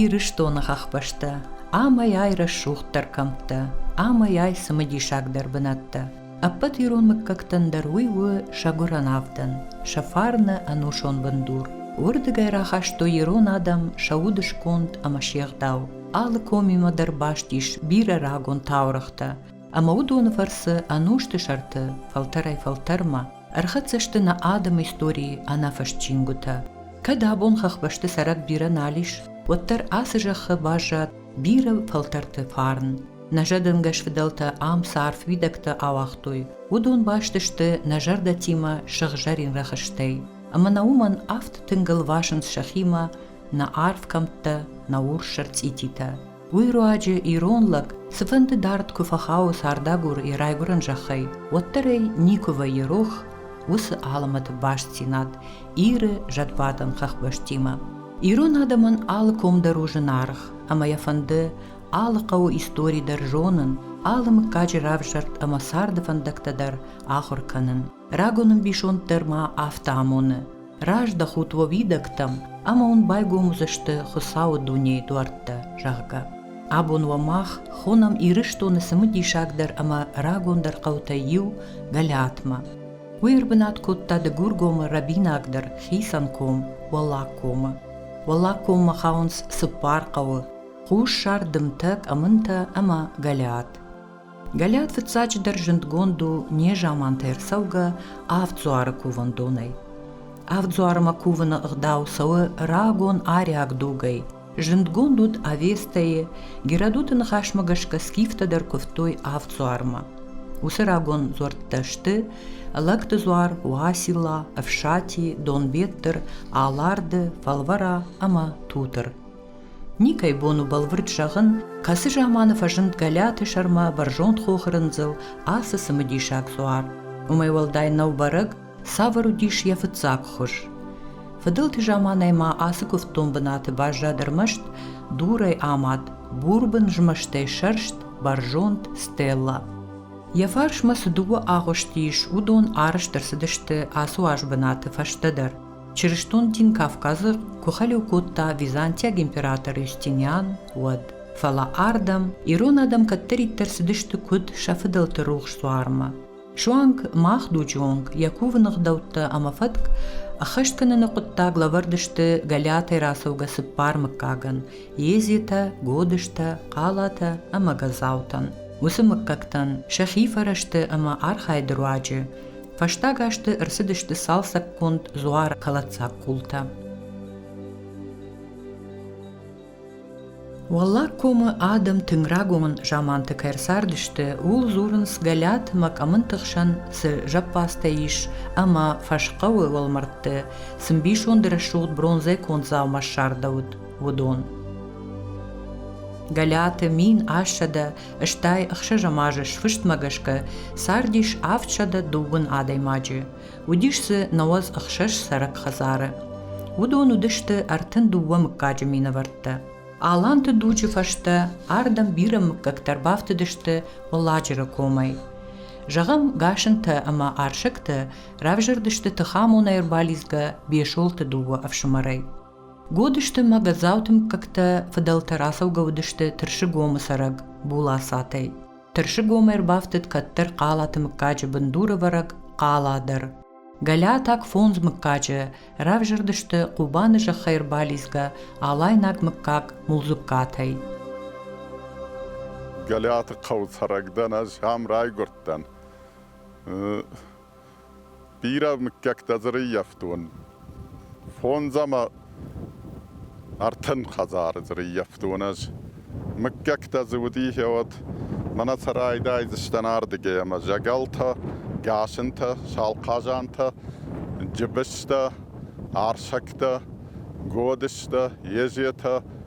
Ирыстоны хӕхбӕстӕ амӕй-ай рӕсугъддӕр кӕмттӕ, амӕй-ай цымыдисагдӕр бынӕттӕ. Ӕппӕт ирон мыггӕгтӕн дӕр уый у сӕ гуырӕн авдӕн, сӕ фарны ӕнусон бындур. Уырдыгӕй рахастой ирон адӕм сӕ удысконд ӕмӕ се гъдау. Алы комимӕ дӕр баст ис бирӕ рагон таурӕгътӕ. ӕмӕ уыдоны фӕрцы ӕнусты сӕрты фӕлтӕрӕй-фӕлтӕрмӕ ӕрхӕццӕ сты нӕ адӕмы историйы ӕнӕфыст чингуытӕ. Кӕд абон хӕхбӕсты цӕрӕг бирӕ нал ис, уӕддӕр ацы зӕххы баззад бирӕ фӕлтӕрты фарн. Нӕ зӕдӕнгӕс фыдӕлтӕ ам цы арф уидӕгтӕ ауагътой, уыдон баст сты нӕ зӕрдӕтимӕ сыгъзӕрин рӕхыстӕй, ӕмӕ нӕ уымӕн афтӕ тынг ӕлвасынц сӕхимӕ нӕ арф кӕмттӕ, нӕ урс сӕрцъититӕ. уый руаджы ирон лӕг цыфӕнды дард куы фӕхауы цардагур йӕ райгуырӕн зӕххӕй, уӕддӕр ӕй никуы вӕййы рох уыцы алымӕты бастдзинад Иры зӕдбадӕн хӕхбӕстимӕ. Ирон адӕмӕн алы ком дӕр у зынаргъ, ӕмӕ йӕ фӕнды алы хъӕуы истори дӕр зонын, алы мыггаджы равзӕрд ӕмӕ царды фӕндӕгтӕ дӕр ахуыр кӕнын. Рагон ӕмбисонд дӕр ма афтӕ амоны. раздӕхут уӕ уидӕгтӕм ӕмӕ уын байгом уыдзысты Хуыцауы дунейы дуӕрттӕ, зӕгъгӕ. Абон уӕ мах хонӕм Ирыстоны цымыдисагдӕр ӕмӕ рагондӕр хъӕутӕй иу Гӕлӕтмӕ. Уый ӕрбынат кодта Дыгургомы рӕбинагдӕр хицӕн ком Уӕллагкомы. Уӕллагкоммӕ хауынц цыппар хъӕуы, хуссар, дымтӕ, къӕмынтӕ ӕмӕ Гӕлӕт. Галиат фыццаджыдӕр зындгонд у незаманты ӕрцӕугӕ авд дзуары кувӕндонӕй. Авд дзуармӕ кувыны ӕгъдау цӕуы рагон ариаг дугӕй. Зындгонд уыд Авестӕйы, Геродоты ныхасмӕ гӕсгӕ скифтӕ дӕр куывтой авд дзуармӕ. Уыцы рагон дзуӕрттӕ сты Лӕгты дзуар, Уасила, Ӕфсати, Донбеттыр, Аларды, Фӕлвӕра ӕмӕ Тутыр. Никӕй бон у бӕлвырд зӕгъын, кӕцы заманы фӕзынд Гӕлӕты сӕрмӕ бӕрзонд хохрындзыл ацы цымыдисаг цъуар. Уымӕй уӕлдай нӕу бӕрӕг, цавӕр уыдис йӕ фыццаг хуыз. Фыдӕлты заманӕй ма ацы куывддон бынаты баззад ӕрмӕст дурӕй амад, бурбын змӕстӕй сӕрст, бӕрзонд стелла. Йӕ фарсмӕ цы дыууӕ агъуысты ис, уыдон арӕзт ӕрцыдысты ацы уаз бынаты фӕстӕдӕр. Чырыстон дин Кавказы куы хӕлиу кодта византиаг император Естиниан, уӕд. Фӕлӕ ардӕм ирон адӕм кӕддӕриддӕр цыдысты куыд сӕ фыдӕлты рухс дзуармӕ. Суанг мах дуджы онг йӕ кувыны гъдӕуттӕ ӕмӕ фӕтк ӕххӕст кӕныны хъуыддаг лӕвӕрд сты Гӕлиатӕй рацӕугӕ цыппар мыггагӕн – Езитӕ, Годызтӕ, Хъалатӕ ӕмӕ Газаутӕн. Уыцы мыггӕгтӕн сӕхи фӕрӕзты ӕмӕ архайды руаджы Фӕстаг азты ӕрцыдысты цалцӕггонд дзуары кӕлӕддзаг къултӕ. Уӕллаг комы адӕм тынг рагон заманты кӕй ӕрцардысты, ууыл дзурынц гӕлӕт мӕ къӕмынты хсӕн цы зӕппадзтӕ ис ӕмӕ фӕсхъӕуы уӕлмӕрдты цы мбисонды рӕсугъд бронзӕй конд дзаума ссардӕуыд, уыдон. Гӕлӕты мин ассӕдӕ стӕй ӕхсӕзӕм азы сфыстмӕ гӕсгӕ цардис авд сӕдӕ дыууын адӕймаджы, уыдис дзы науӕдз ӕхсӕз цӕрӕг хӕдзары. Уыдон уыдысты ӕртын дыууӕ мыггаджы минӕвӕрттӕ. Аланты дуджы фӕстӕ ардӕм бирӕ мыггӕгтӕ ӕрбафтыдысты Уӕлладжыры комӕй. Зӕгъӕм, Гасынтӕ ӕмӕ Арсӕгтӕ равзӕрдысты тыхамонӕй ӕрбалидзгӕ Бесолты дыууӕ ӕфсымӕрӕй. Гуыд сты мӕ Гӕдзауты мыггӕгтӕ, фыдӕлтӕ рацӕугӕ уыдысты Тырсыгомы цӕрӕг Булацатӕй. Тырсыгом ӕрбафтыд кӕддӕр Хъалаты мыггаджы бындурывӕрӕг Хъала дӕр. Гӕлиатаг фондз мыггаджы равзӕрдысты Хъубаны зӕххӕй ӕрбалидзгӕ алайнаг мыггаг Мулдзугкатӕй. Гӕлиаты хъӕуы цӕрӕг дӕн, ӕз ам райгуырдтӕн. Бирӕ мыггӕгтӕ дзы рыййӕфтон. Фондз ӕмӕ ӕртын хӕдзары дзы рыййӕфтон ӕз. Мыггӕгтӕ дзы уыди хиуӕт. Мӕнӕ сӕ райдайдзыстӕн ардыгӕй ӕмӕ зӕгӕлтӕ, гасынтӕ, салхъазантӕ, джыбыстӕ, арсӕгтӕ, годыстӕ, езетӕ,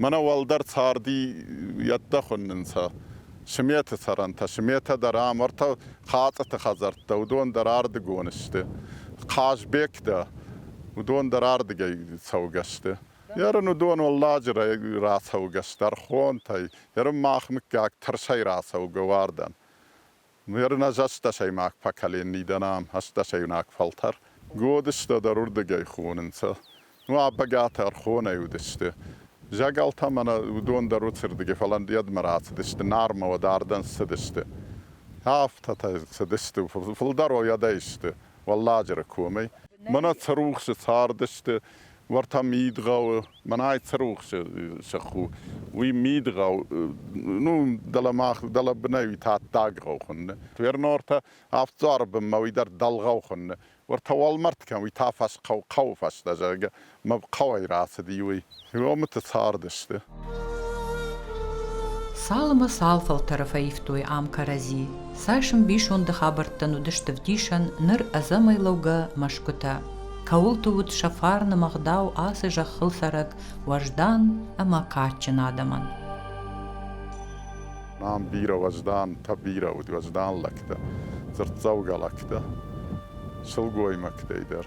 Мӕнӕ уӕлдӕр царди еттӕ хуӕннӕнцӕ сметы цӕрӕнтӕ. Сметӕ дӕр ам ӕртӕ хӕцъыты хӕдзӕрттӕ, уыдон дӕр ардыгон сты. Хъазбегтӕ, уыдон дӕр ардыгӕй цӕугӕ сты. Ерын уыдон уӕлладжырӕй рацӕугӕ, стӕрхонтӕй, ерын мах мыггаг тырсӕй рацӕугӕ уардӕн. Нуӕрын ӕз ӕстдӕсӕймаг поколений дӕн ам, ӕстдӕсӕйунаг фӕлтӕр годыстӕ дӕр уырдыгӕй хонынцӕ. Ну, ӕпӕгатӕ ӕрхонӕй уыдысты. Зӕгӕлтӕ мӕнӕ уыдон дӕр уыцырдыгӕй, фӕлӕ ӕндйӕдмӕ рацыдысты, Нармӕ уӕд ардӕм цыдысты. Афтӕтӕ цыдысты, фылдӕр уӕдӕй сты Уӕлладжыры комӕй. Мӕнӕ Цырухсы цардысты, Уӕртӕ мидгъӕуы, мӕнӕй цы рухсы сых у, уый мидгъӕу, ну, дӕлӕ мах, дӕлӕ бынӕй уый та даггъау хуынны. Вернортӕ авд дзуары бынмӕ уый дӕр дӕлгъау хуынны. Уӕртӕ уӕлмӕрд кӕм, уый та фӕсхъӕу, хъӕуы фӕстӕ, зӕгъгӕ, мӕ хъӕуӕй рацыди, уый. Иомыты цардысты. Цалынмӕ цал фӕлтӕры фӕивтой ам кӕрӕдзи, цас ӕмбисонды хабӕрттӕн уыдысты вдисӕн ныр ӕдзӕмӕй лӕугӕ мӕсгуытӕ. Кӕуылты уыд сӕ фарны мӕгъдау ацы зӕххыл цӕрӕг уӕздан ӕмӕ кадджын адӕмӕн. Нам бирӕ уӕздан, та бирӕ уыд уӕздан лӕгтӕ, дзырддзӕугӕ лӕгтӕ, сылгоймӕгтӕй дӕр.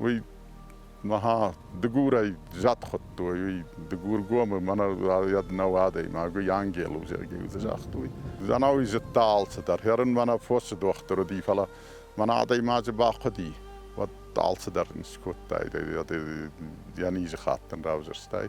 уый махā Дыгурӕй зӕд хуыдтой, уый Дыгургомы мӕнӕ нӕу адӕймаг, уый ангел у, Сергей уыды загътой. Ӕнӕуый зыдта алцыдӕр, хӕрын мӕнӕ фосы дохтыр уыди, фӕлӕ мӕнӕ адӕймаджы бахъуыди, уӕд алцыдӕр ын скодтай, йӕ низы хатт ын равзӕрстай.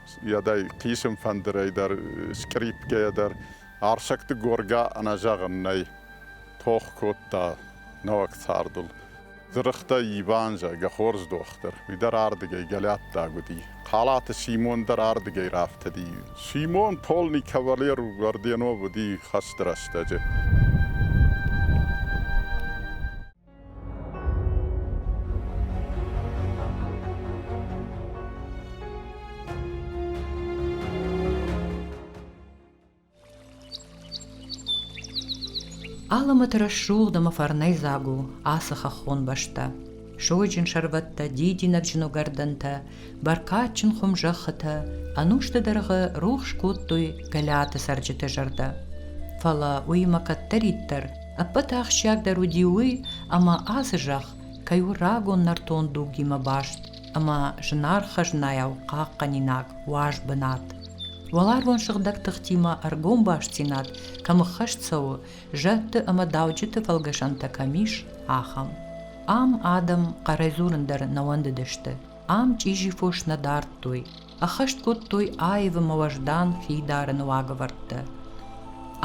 Йӕдӕй хъисын фӕндырӕй дӕр, скърипкӕйӕ дӕр Арсӕгты Горга ӕнӕзӕгъын нӕй, тох кодта нӕуӕг цардыл. Дзырыхтӕй Иван зӕгъгӕ хорз дохтыр, уый дӕр ардыгӕй гӕлӕттаг уыди. Халаты Симон дӕр ардыгӕй рафтыди. Симон полный кавалер орденов уыди хӕсты рӕстӕджы. Аламӕт рӕсугъд ӕма фӕрнӕйдзаг у ацы хӕххон бӕстӕ. Сойджын сӕрвӕттӕ, дидинӕгджын угӕрдӕнтӕ, бӕркадджын хуым зӕххытӕ ӕнусты дӕргъы рухс кодтой Гӕлиаты цӕрджыты зӕрдӕ. Фӕлӕ уыимӕ кӕддӕриддӕр Ӕппӕт ахсджиагдӕр уыди уый, ӕмӕ ацы зӕхх кӕй у рагон нӕртон дугимӕ баст ӕмӕ зынаргъ хӕзнайау хъахъхъӕнинаг уаз бынат. Уӕларвон сыгъдӕг тыхтимӕ ӕргом бастдзинад кӕм ӕххӕст цӕуы, зӕдты ӕмӕ дауджыты фӕлгӕсӕнтӕ кӕм ис, ахӕм. Ам адӕм хъӕрӕй дзурын дӕр нӕ уӕндыдысты, ам чъизи фос нӕ дардтой, ӕххӕст кодтой аивы ӕмӕ уӕздан хидарыны уагӕвӕрдтӕ.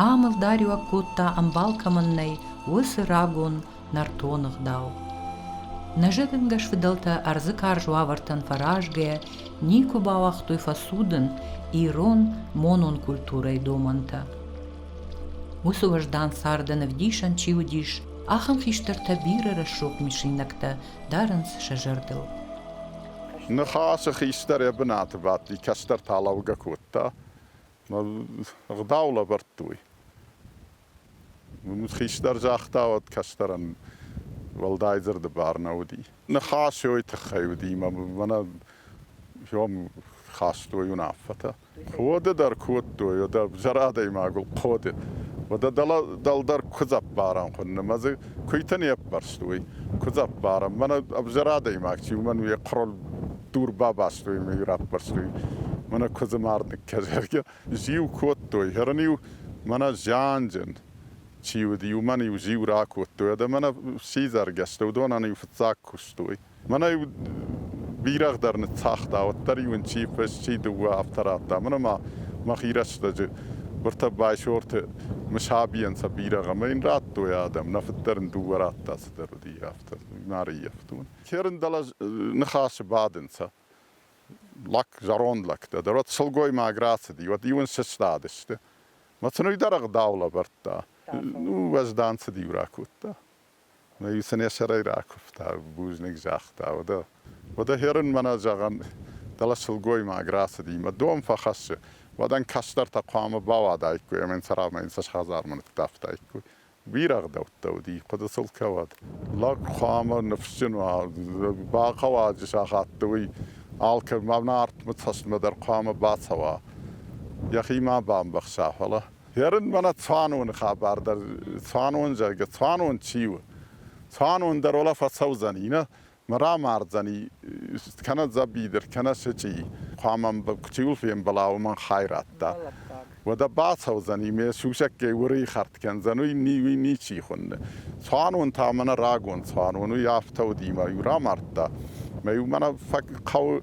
Ам ӕлдариуӕг кодта, ӕмбал кӕмӕн нӕй, уыцы рагон нӕртон ӕгъдау. Нӕзӕгӕнгӕс фыдӕлтӕ ӕрдзы карз уавӕртӕн фӕразгӕйӕ никуы бауагътой фӕсудын ирон монон культурӕйы домӕнтӕ. Уыцы уӕздан царды ӕвдисӕн чи уыдис, ахӕм хистӕртӕ бирӕ рӕсугъд мысинӕгтӕ дарынц сӕ зӕрдыл. Ныхасы хистӕр йӕ бынаты бадти, кӕстӕр та лӕугӕ кодта. Ӕгъдау лӕвӕрдтой. Хистӕр загъта, уӕд кӕстӕрӕн уӕлдай дзырды бар нӕ уыди. Ныхас йой тыххӕй уыди, мӕнӕ йӕм хастой уынаффӕтӕ. Хъоды дӕр кодтой, уӕдӕ зӕр адӕймаг у хъоды. Уӕдӕ дӕлдӕр куыдз ӕппарӕн хуынны, мӕ дзы куыйтӕ не ппӕрст уый. Куыдз ӕппарӕн, мӕнӕ ӕвзӕр адӕймаг чи у, мӕн уе хъырыл дур бабастой ӕмӕ иу раппӕрстой мӕнӕ куыдзы мӕрдныккӕ, зӕгъгӕ. Зиу кодтой, хӕрын-иу мӕнӕ зианджын чи уыди, уымӕн-иу зиу ракодтой, уӕдӕ мӕнӕ сидзӕргӕстӕ уыдонӕн-иу фыццаг куыстой. Мӕнӕ бирӕгъдӕр ныццагъта, уӕддӕр-иу ын чи фыст, чи дыууӕ афтӕ радта. Мӕнӕ ма мӕхи рӕстӕджы быртӕ Байсорты Мысабийӕн сӕ бирӕгъ ӕмӕ йын радтой адӕм, нӕ фыд дӕр ын дыууӕ радта, цыдӕр уыди, афтӕ ма рыййӕфтон. Херын дӕлӕ ныхасы бадынц лӕг, зӕронд лӕгтӕ дӕр. Уӕд сылгоймаг рацыди, уӕд-иу ын сыстадысты. Мӕ сын уый дӕр ӕгъдау лӕвӕрдта. Ну, уӕздан цыд-иу ракодта. Исынесӕрӕй ракуывта, бузныг загъта, уӕдӕ, уӕдӕ хӕрын мӕнӕ зӕгъӕн, дӕлӕ сылгоймаг рацыди мӕ дон фӕхӕссы, уӕдӕн кӕстӕртӕ хъуамӕ бауадаиккой ӕмӕ йын цӕрӕмӕ йын цас хӕдзармӕ ныццавтаиккой. Бирӕгъдӕуттӕ уыди, хъуыды сыл кӕуӕд. Лӕг хъуамӕ ныфсджын уа, бахъӕуӕджы сахатты уый алкӕмӕ Нартмӕ цӕстмӕ дӕр хъуамӕ бацӕуа, йӕхи ма бамбӕхса, фӕлӕ. Ерын мӕнӕ цуаноны хабар дӕр, цуанон зӕгъгӕ, цуанон чи у? Цуанон дӕр ола фӕцӕудзӕни, нӕ рамардзӕни, кӕнӕ дзӕбидыр, кӕнӕ сычъи. Хъуамӕ чиуыл фембӕла, уымӕн хай радта. Уӕдӕ бацӕудзӕни, ме сусӕггӕй уырыйхӕрд кӕндзӕн, уый ни, уый ничи хуынны. Цуанон та мӕнӕ рагон цуанон, уый афтӕ уыди мӕ иу рамардта. Мӕ иу мӕнӕ фӕ хъӕуы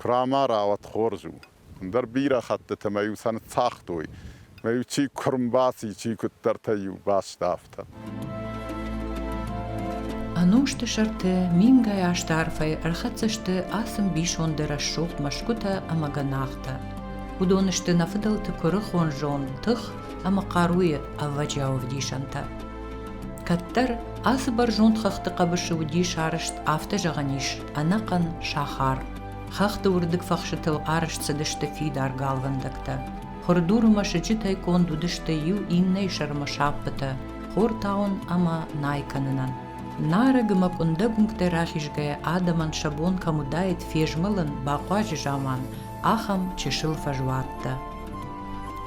Хъуамӕ рауад хорз у. Ӕндӕр бирӕ хӕттыты мӕ-иу сӕ ныццагътой, мӕ-иу чи куы ӕрбаци, чи куыддӕртӕ-иу баст, афтӕ. Ӕнусты сӕрты мингай азты арфӕй ӕрхӕццӕ сты ацы мбисонды рӕсугъд мӕсгуытӕ ӕмӕ гӕнахтӕ. Уыдон сты нӕ фыдӕлты куырыхон зонд, тых ӕмӕ хъаруйы ӕвӕджиау ӕвдисӕнтӕ. Кӕддӕр ацы бӕрзонд хӕхты хъӕбысы уыди сарӕзт афтӕ зӕгъӕн ис, ӕнӕхъӕн сахар. Хӕхты уырдыг фӕхсытыл арӕзт цыдысты фидар галвӕндӕгтӕ. Хуырдуры мӕсыджытӕй конд уыдысты иу иннӕйы сӕрмӕ сӕппытӕ хортауын ӕмӕ най кӕнынӕн. Нарӕг ӕмӕ къуындӕг уынгтӕй рахизгӕйӕ адӕмӕн сӕ бон кӕм уыдаид фезмӕлын, бахъуаджы заман ахӕм чысыл фӕзуӕттӕ.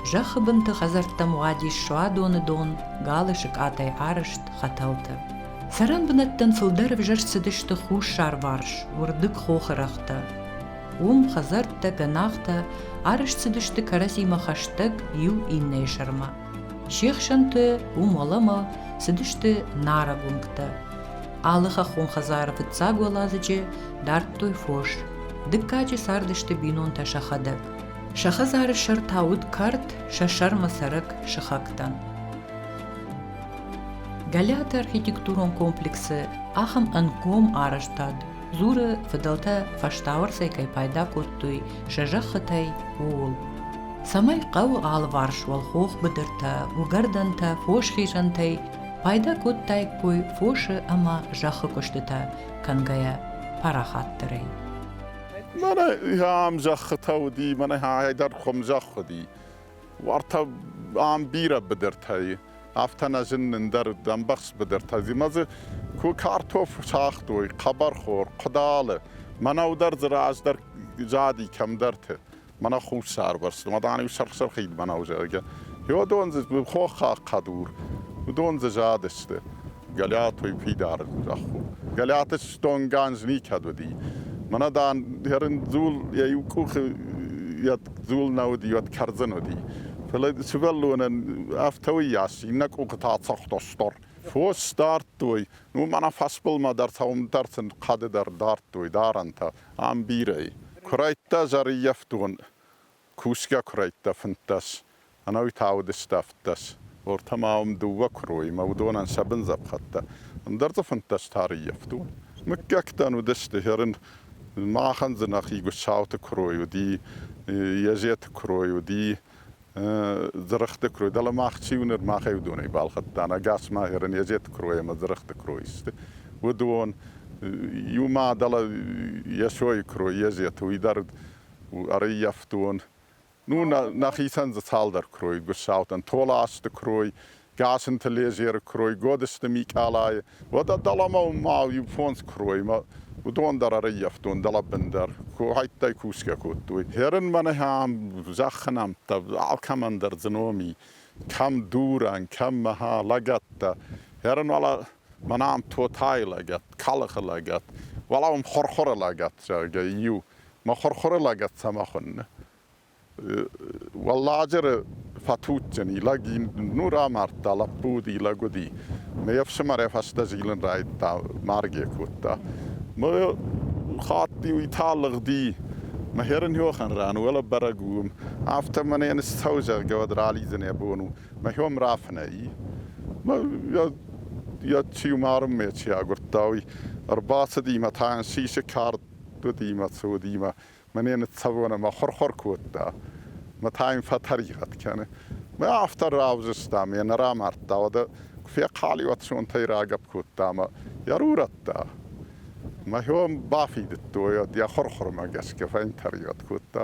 Зӕххы бынты хӕдзӕрттӕм уадис суадоны дон, галы сыкъатӕй арӕзт хӕтӕлтӕ. Цӕрӕн бынӕттӕм фылдӕр ӕвзӕрст цыдысты хуссарварс, уырдыг хохы рӕгътӕ. Уым хӕдзӕрттӕ, гӕнахтӕ арӕзт цыдысты кӕрӕдзимӕ хӕстӕг иу иннӕйы сӕрмӕ. Се хсӕнты уым уӕлӕмӕ цыдысты нарӕг уынгтӕ. Алы хӕххон хӕдзары фыццаг уӕладзыджы дардтой фос. Дыккаджы цардысты бинонтӕ сӕхӕдӕг. Сӕ хӕдзары сӕр та уыд кард, сӕ сӕрмӕ цӕрӕг сыхӕгтӕн. Галиаты архитектурон комплексы ахӕм ӕнгом арӕзтад дзуры фыдӕлтӕ фӕстауӕрцӕй кӕй пайда кодтой сӕ зӕххытӕй, ууыл. цӕмӕй хъӕуы алыварс уӕлхох быдыртӕ, уыгӕрдӕнтӕ, фосхизӕнтӕй пайда кодтаиккой фосы ӕмӕ зӕххы куыстытӕ кӕнгӕйӕ парахатдӕрӕй. Mana ам зӕххытӕ уыди, mana ай дӕр хуым зӕхх уыди. Уартӕ ам бирӕ быдыртӕ и, афтӕ нӕ зын ндӕр ӕмбӕхст быдыртӕ зимӕ дзы ку картоф сагътой, хъӕбӕрхор, къудалы. Мӕнӕу дӕр дзы раздӕр зади кӕмдӕрты. Мӕнӕ хуссарбӕрсты, ма дан-иу сырх-сырхид мӕнӕу зӕгъгӕ. Йодон дзы хоххаг хъӕдур, уыдон дзы задысты. Гӕлиатой фидар зӕхху. Гӕлиаты стонган никӕд уыди. Мӕнӕ, дан, хӕрындзул йӕ иу къухы йӕ дзул нӕ уыди, уӕд кӕрдзын уыди. Фӕлӕ сывӕллонӕн афтӕуыйас иннӕ къухы та цӕгъдостор. Фос дардтой, ну мӕнӕ фӕсбылмӕ дӕр сӕумдӕр сын хъӕды дӕр дардтой дарӕнтӕ ам бирӕ. Куырӕйттӕ зӕрыййӕфтон Кусгӕ куырӕйттӕ фынддӕс, ӕнӕуи та уыдысты ӕвддӕс, ортӕ ма уым дыууӕ куыроимӕ, уыдонӕн сӕ бын дзӕпхӕттӕ, ӕндӕр дзы фынддӕс та рыййӕфт уыд. Мыггӕгтӕн уыдысты, Херын махӕн дзы нӕхи Гуссауты куырой уыди, Езеты куырой уыди, Дзырыхъты куырой, дӕлӕ мах чи у ныр, махӕй уыдонӕй балхӕдтам, ӕгас ма Херын, Езеты куырой ӕмӕ Дзырыхъты куырой сты, уыдон. Иу ма дӕлӕ Йесойы куырой, Езеты, уый дӕр ӕрыййӕфтон. Ну, нӕхицӕн дзы цалдӕр куырой гуыссаутӕн, Толасты куырой, Гасынты Лезеры куырой, Годысты Микъалайы, уӕдӕ дӕлӕмӕ ма иу фондз куыроймӕ, уыдон дӕр ӕрыййӕфтон дӕлӕбындӕр, хӕйттӕй кусгӕ кодтой. Хӕрын мӕн ахӕм зӕххы нӕмттӕ, алкӕмӕн дӕр дзы ном и, кӕм дурӕн, кӕм мӕ лӕгӕттӕ. Хӕрын уал Мӕнӕ ам тотайы лӕгӕт, калыхы лӕгӕт, уӕлӕ уым хурхуры лӕгӕт, зӕгъгӕ, иу. Мӕ хурхуры лӕгӕт цӕмӕ хуынны? Уӕлладжыры фӕтуджджын, и лӕг ин нур амардта, лӕппу уыди, лӕг уыди. Ме ӕфсымӕрӕй фӕстӕ зилын райдыдта, маргӕ кодта. Мӕ хатт-иу итӕ лыгъди, мӕ херын хохӕн ран, уӕлӕ бӕрӕг у уым. Афтӕ мӕнӕ йын ссӕуы, зӕгъгӕ, уӕд ралидзын йӕ бон у. Мӕхем рафинӕй. Еци умарын ме ци агурдта, уый ӕрбацыди мӕ та сисы кард уыди мӕ цы уыди мӕ мӕне ныццӕвон ӕмӕ хъуыр-хъуыр кодта. Мӕ та йын фӕтӕригъӕд кӕны. Мӕ афтӕ равзыста ме нӕ рамардта, уӕдӕ куы фехъӕлиуат сонтӕй рагӕпп кодта мӕ йӕ рурӕдта. Мӕхем бафидыдтой, уӕд йӕ хъуыр-хъуырмӕ гӕсгӕ фӕньтӕригъӕд кодта.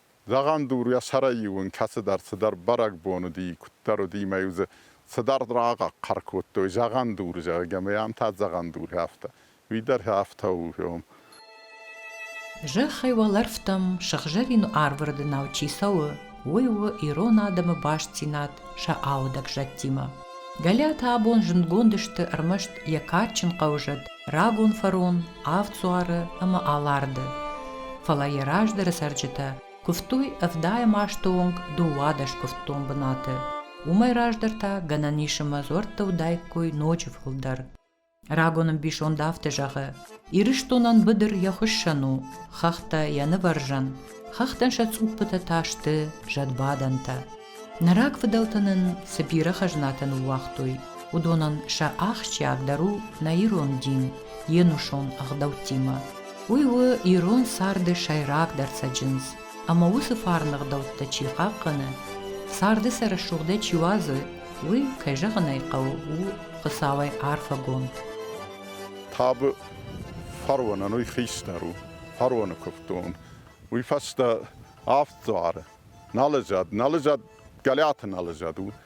Зӕгъӕн, дурйӕ сӕрӕй-иу ын кӕцыдӕр цыдӕр бӕрӕгбон уыди, куыддӕр уыди мӕ-иу дзы цыдӕр рахъӕр кодтой, зӕгъӕн дур, зӕгъгӕ, мӕ ам та зӕгъӕн дур афтӕ, уый дӕр афтӕ у. Зӕххӕй уӕлӕрвтӕм сыгъзӕрин арвырдынау чи цӕуы, уый у ирон адӕмы бастдзинад сӕ аудӕг зӕдтимӕ. Галиатӕ абон зындгонд сты ӕрмӕст йӕ кадджын хъӕузӕд рагон фарон, авд дзуары ӕмӕ Аларды. Фӕлӕ йӕ раздӕры цӕрджытӕ куывтой ӕвдайӕм азты онг дыууадӕс куывддон бынаты. Уымӕй раздӕр та, гӕнӕн ис ӕмӕ дзуӕрттӕ уыдаиккой ноджы фылдӕр. Рагон ӕмбисонд афтӕ зӕгъы, Ирыстонӕн быдыр йӕ хуыссӕн у, хӕхтӕ йӕ нывӕрзӕн, хӕхтӕн сӕ цъуппытӕ та сты зӕдбадӕнтӕ. Нӕ рагфыдӕлтӕ нын цы бирӕ хӕзнатӕ ныууагътой, уыдонӕн сӕ ахсджиагдӕр у нӕ ирон дин йе нусон ӕгъдӕуттимӕ. Уый у ирон царды сӕйрагдӕр цӕджындз. ӕмӕ уыцы фарны гъдӕуттӕ чи хъахъхъӕны, царды сӕ рӕсугъдӕй чи уадзы, уый, кӕй зӕгъын ӕй хъӕуы, у Хуыцауӕй арфӕгонд. Табы фаронӕн уый хистӕр у, фароны куывдон. Уый фӕстӕ авд дзуары, налӕзад, налӕзад, Гӕлӕты налӕзад у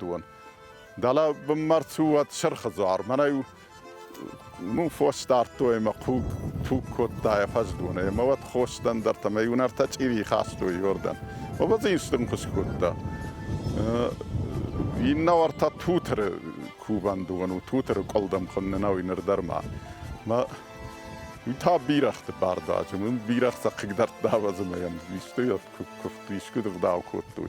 уон. Дала марцу уӕд сырхы зар, мӕнӕй ну фостардтой ма хъуг туг кодта фӕздуне, ма вот хостан дӕр там юнарта чиви хастой йордан. Оба зинстун кус кодта. Инна орта тутыры кубандуану, тутыры колдам конне науиныр дарма. Ма Та бирахты бардаджы, мун бирахта қигдартдавазымайан, истойат куфту искудов дау кодтой.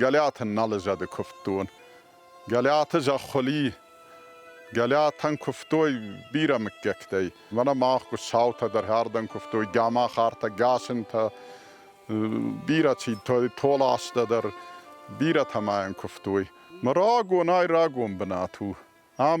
Гӕлиаты нал зӕды куывддон. Гӕлиаты зӕххуыли Гӕлиатӕн куывтой бирӕ мыггӕгтӕй. Мӕнӕ мах саутӕ дӕр хӕрдӕн куывтой, гамахартӕ, гасынтӕ, бирӕ чи, толастӕ дӕр, бирӕтӕ ма йын куывтой. Мӕ рагонӕй рагон бынат у. Ам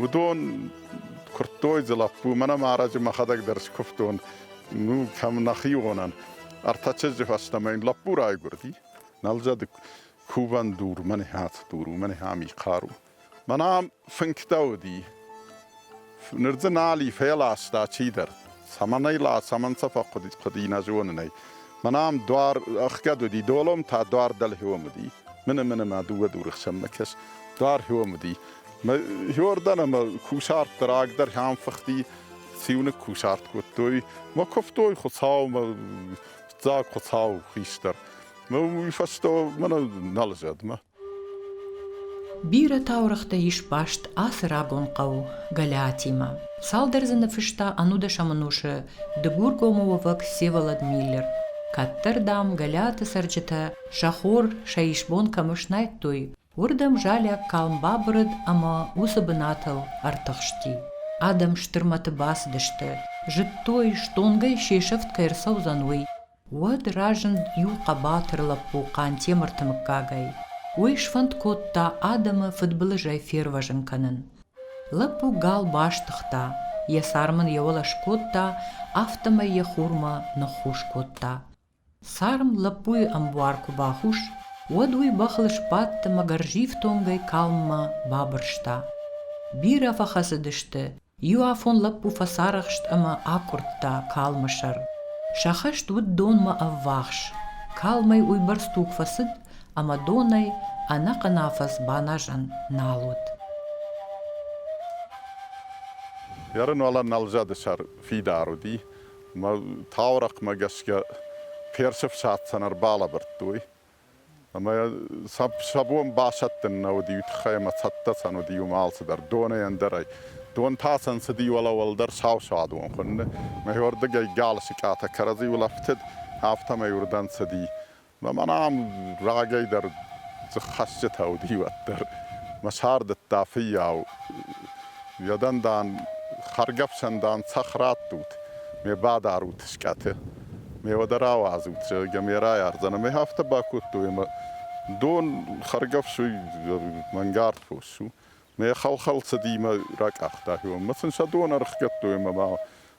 Уыдон куырдтой дзы лӕппу, мӕнӕ ма ӕрӕджы мӕхӕдӕг дӕр скуывтон, ну, кӕм нӕхионӕн. Ӕртӕ чызджы фӕстӕмӕ йын лӕппу райгуырди. Нӕлзӕды кувӕн дур, мӕне хӕц дур у, мӕне хӕми хъару. Мӕнӕ фынгтӕ уыди. Ныр дзы нал и, феласта чидӕр. Цӕмӕн ӕй ла, цӕмӕн сӕ фӕхъуыди, нӕ зонын ӕй. Мӕн ам дуар ӕхгӕд уыди, долом та дуар дӕлхиом уыди. Мыны мыны мӕ дыууӕ дуры хсӕн мӕ кӕс, дуар хиом уыди. Мӕ хиордӕн ӕмӕ кусарт рагдӕр хӕм фыхти, циуыныг кусарт кодтой. Мӕ куывтой Хуыцаумӕ, дзаг Хуыцау хистӕр. Ну, уый фӕстӕ мӕнӕ нал зӕдмӕ. Бирӕ таурӕгътӕ ис баст ацы рагон хъӕу Гӕлиатимӕ. Цалдӕр дзы ныфыста ӕнудӕсӕм ӕнусы Дыгургомы уӕвӕг Всеволод Миллер. Кӕддӕр, дам, Гӕлиаты цӕрджытӕ сӕ хор сӕ исбон кӕмӕ снайдтой, уырдӕм залиаг калм бабырыд ӕмӕ уыцы бынатыл ӕртыхсти. Адӕм стыр мӕты бацыдысты, зыдтой, стонгӕй се сӕфт кӕй ӕрцӕудзӕн, уый. Уӕд разынд иу хъӕбатыр лӕппу Хъантемырты мыггагӕй. Уый сфӕнд кодта адӕмы фыдбылызӕй фервӕзын кӕнын. Лӕппу гал бастыгъта, йӕ сӕр мын йӕ уӕлӕ скодта, афтӕмӕй йӕ хурмӕ ныххус кодта. Царм лӕппуйы ӕмбуар куы бахус, уӕд уый бӕхыл сбадт ӕмӕ гӕрзифтонгӕй калммӕ бабырста. Бирӕ фӕхӕцыдысты, Иу афон лӕппу фӕцарӕхст ӕмӕ акъуырдта калмы сӕр. Сӕ хӕст уыд донмӕ ӕввахс. Калмӕй уыйбӕрц туг фӕцыд, ӕмӕ донӕй ӕнӕхъӕн афӕдз баназӕн нал уыд. Ярын уӕлӕ нӕлзӕды сӕр фидар уыди, ӕмӕ таурӕхъмӕ гӕсгӕ персы фсадтӕн ӕрбалӕбырдтой. Ӕмӕ сӕ бон басӕттын нӕ уыди уый тыххӕй, ӕмӕ цӕттӕ-цӕн уыди уым алцыдӕр, донӕй ӕндӕрӕй. Дон та сӕн цыди уӕлӕ-уӕлдӕр сау-сауадон хуынны. Мӕ уырдыгӕй галы сыкъатӕ кӕрӕдзи улӕфтыд, афтӕмӕй уырдӕм цыди. Мӕн ам рагӕй дӕр дзыххӕсджытӕ уыди уӕддӕр. Мӕ сардыдта фыййау. Йӕ дӕн, дам, хӕргӕфсӕн, дам, цӕхх раттут, ме бадарут скъӕты. мева дӕр ауадзут, зӕгъгӕ, ме райардзӕн. Ӕмӕ афтӕ бакодтой, ӕмӕ дон хӕргӕфсуй мӕнгард фос у. Мӕ хӕл-хӕл цыди мӕ ракъахта хионмӕ. Сын сӕ дон ӕрыхгӕдтой ӕмӕ ма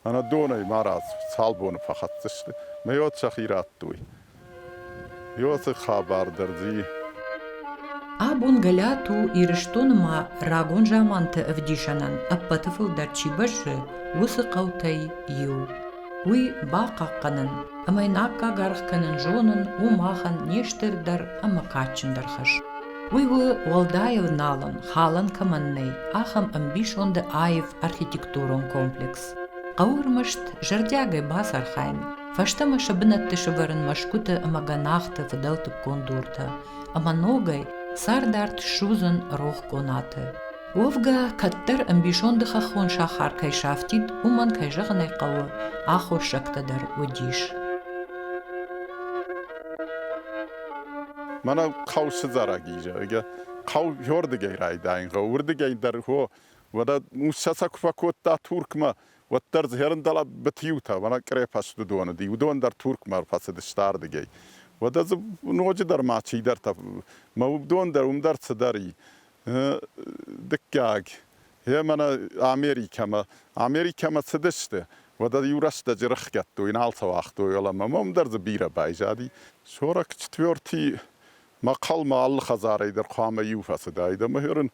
ӕнӕ донӕй марадз цал боны фӕхӕцдзысты. Мӕ уӕд сӕхи радтой. Еуӕты хабар дӕр дзы и. Абон горӕт у Ирыстоны ма рагон заманты ӕвдисӕнӕн ӕппӕты фылдӕр чи бӕззы, уыцы хъӕутӕй иу. Уый бахъахъхъӕнын ӕмӕ йын аккаг аргъ кӕнын зонын у махӕн не стырдӕр ӕмӕ кадджындӕр хӕс. Уый у, уӕлдайыл налон, халӕн кӕмӕн нӕй, ахӕм ӕмбисонды аив архитектурон комплекс. Хъӕуы ӕрмӕст зӕрдиагӕй бацархайын, Фӕстӕмӕ сӕ бынӕтты сывӕрын мӕсгуыты ӕмӕ гӕнахты фыдӕлтыккон дуртӕ ӕмӕ ногӕй цардарт ссудзын рох къонаты. Уӕвгӕ, кӕддӕр ӕмбисонды хӕххон сахар кӕй сафтид, уымӕн, кӕй зӕгъын ӕй хъӕуы, аххоссӕгтӕ дӕр уыдис. Мӕнӕ хъӕу сыдзӕрӕг и, зӕгъгӕ, хъӕу иуӕрдыгӕй райдайын гъӕуы, уырдыгӕй дӕр, о, уӕдӕ усса сӕ куы фӕкодта Туркмӕ, Уӕддӕр дзы хӕрындӕлӕ бытиутӕ, мӕнӕ крепосты доны ди, уыдон дӕр Туркмӕ ӕрфӕцыдысты ардыгӕй. Уӕдӕ дзы ноджыдӕр ма чидӕртӕ, мӕ уыдон дӕр, уым дӕр цыдӕр и. Дыккаг, гъе мӕнӕ Америкӕмӕ. Америкӕмӕ цыдысты, уӕдӕ иу рӕстӕджы рыхгӕдтой, нал сӕ уагътой, уӕлӕ мӕм уым дӕр дзы бирӕ байзади. Сорок четвертый мӕхъӕлмӕ алы хӕдзарӕй дӕр хъуамӕ иу фӕцыдаид ӕмӕ ныр ын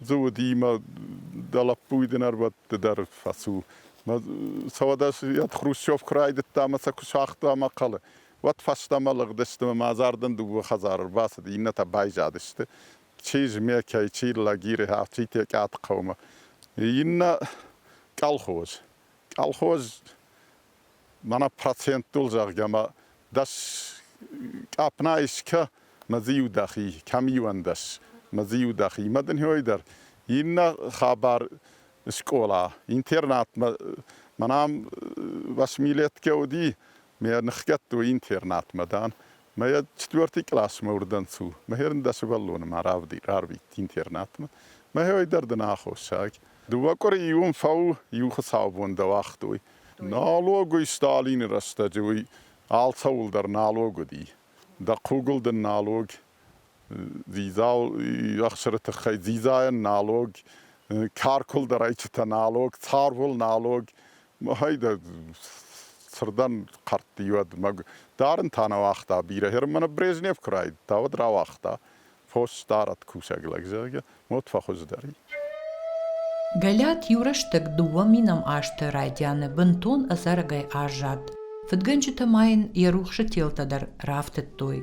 Дзы уыди мӕ дӕ лӕппу уый дын ӕрбӕтты дӕр фӕцу. Мӕ сӕуӕдӕс ӕд хрущевка райдыдта мӕ сӕ куы сагъта мӕ хъӕлы, уӕд фӕстӕмӕ лыгъдысты мӕ мадзардӕн дыууӕ хӕдзары рбацыд, иннӕтӕ байзадысты. Чи Змӕкӕй, чи Лагиры, афтид Текъаты хъӕумӕ. Иннӕ колхоз. Колхоз мӕнӕ проценттыл, зӕгъгӕ, ма дӕс къапна искӕ ма дзы иу дӕхи, кӕм иуӕндӕс ма дзы иу дӕхи. Ма дын хёй дӕр иннӕ хабар скъола, интернатмӕ мӕнӕм восьмилетке уыди, ме ныхгӕдтой интернатмӕ, дан, Мӕ четвертый классмӕ уырдӕнцу. Мӕхерн дӕ сывӕллоны ма рарвит интернатмӕ. Мӕхе дӕр дын аххосаг. Дыууӕ къуыри иуын фӕу, иу хуыцаубон дӕ уагътой. Налогой Сталины рӕстӕджы уый алцӕуылдӕр налог уыди. Дӕ хъугыл дын налог, дзидзау ӕхсыры тыххӕй дзидзайӕн налог, каркуылдарӕйчытӕ налог, царвыл налог, Махӕй дӕ сырдӕн хъӕртти уӕдмӕ. Дарын та нӕ уагъта, бирӕ Германы Брежнев куы райдыдта, уӕд рауагъта, фос сдарӕд кусӕг лӕг, зӕгъгӕ, мод фӕхуыздӕр и. Галиат иу рӕстӕг дыууӕ минам азты райдианы бынтон ӕдзӕрӕгӕй аззад. Фыдгӕнджытӕ ма йын йӕ рухсы телтӕ дӕр рафтыдтой,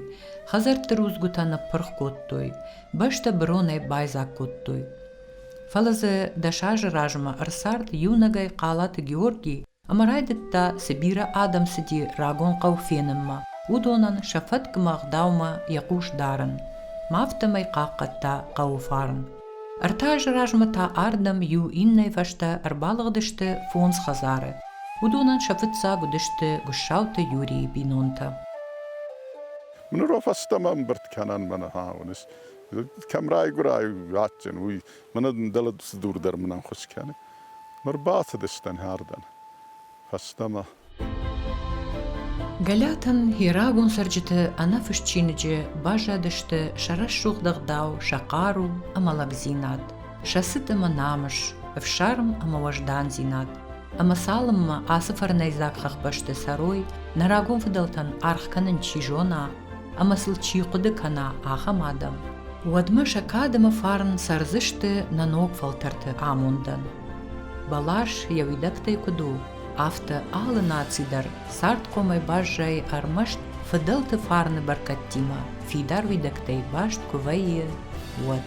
хӕдзӕртты рудзгуытӕ ныппырх кодтой, бӕстӕ быронӕй байдзаг кодтой. Фӕлӕ дзы дӕс азы размӕ ӕрцард иунӕгӕй Хъалаты Георги ӕмӕ райдыдта цы бирӕ адӕм цыди рагон хъӕу фенынмӕ, уыдонӕн сӕ фӕткмӕ ӕгъдаумӕ йӕ хъус дарын, ма афтӕмӕй хъахъхъӕдта хъӕуы фарн. Ӕртӕ азы размӕ та ардӕм иу иннӕйы фӕстӕ ӕрбалыгъдысты фондз хӕдзары. Уыдонӕн сӕ фыццаг уыдысты Гуыссауты Юрийы бинонтӕ. Ныры фӕстӕмӕ ӕмбырд кӕнӕн мӕ ныхӕ уыныс? кӕм райгуырай адджын, уый мӕнӕ дын дӕлӕ цы дур дӕр мын ӕххуыс кӕны. Ныр бацыдыстӕн хӕрдӕн фӕстӕмӕ. Галиатӕн йӕ рагон цӕрджыты ӕнӕфыст чиныджы баззадысты сӕ рӕсугъд ӕгъдау, сӕ хъару ӕмӕ лӕгдзинад, сӕ цыт ӕмӕ намыс, ӕфсарм ӕмӕ уӕздандзинад. Ӕмӕ цалынмӕ ацы фӕрнӕйдзаг хӕхбӕсты цӕрой, нӕ рагон фыдӕлтӕн аргъ кӕнын чи зона ӕмӕ сыл чи хъуыды кӕна, ахӕм адӕм, уӕдмӕ сӕ кад ӕмӕ фарн цӕрдзысты нӕ ног фӕлтӕрты амондӕн. Бӕлас йӕ уидӕгтӕй куыд у, афтӕ алы наци дӕр цардхъомӕй баззайы ӕрмӕст фыдӕлты фарны бӕркӕдтимӕ, фидар уидӕгтӕй баст куы вӕййы, уӕд.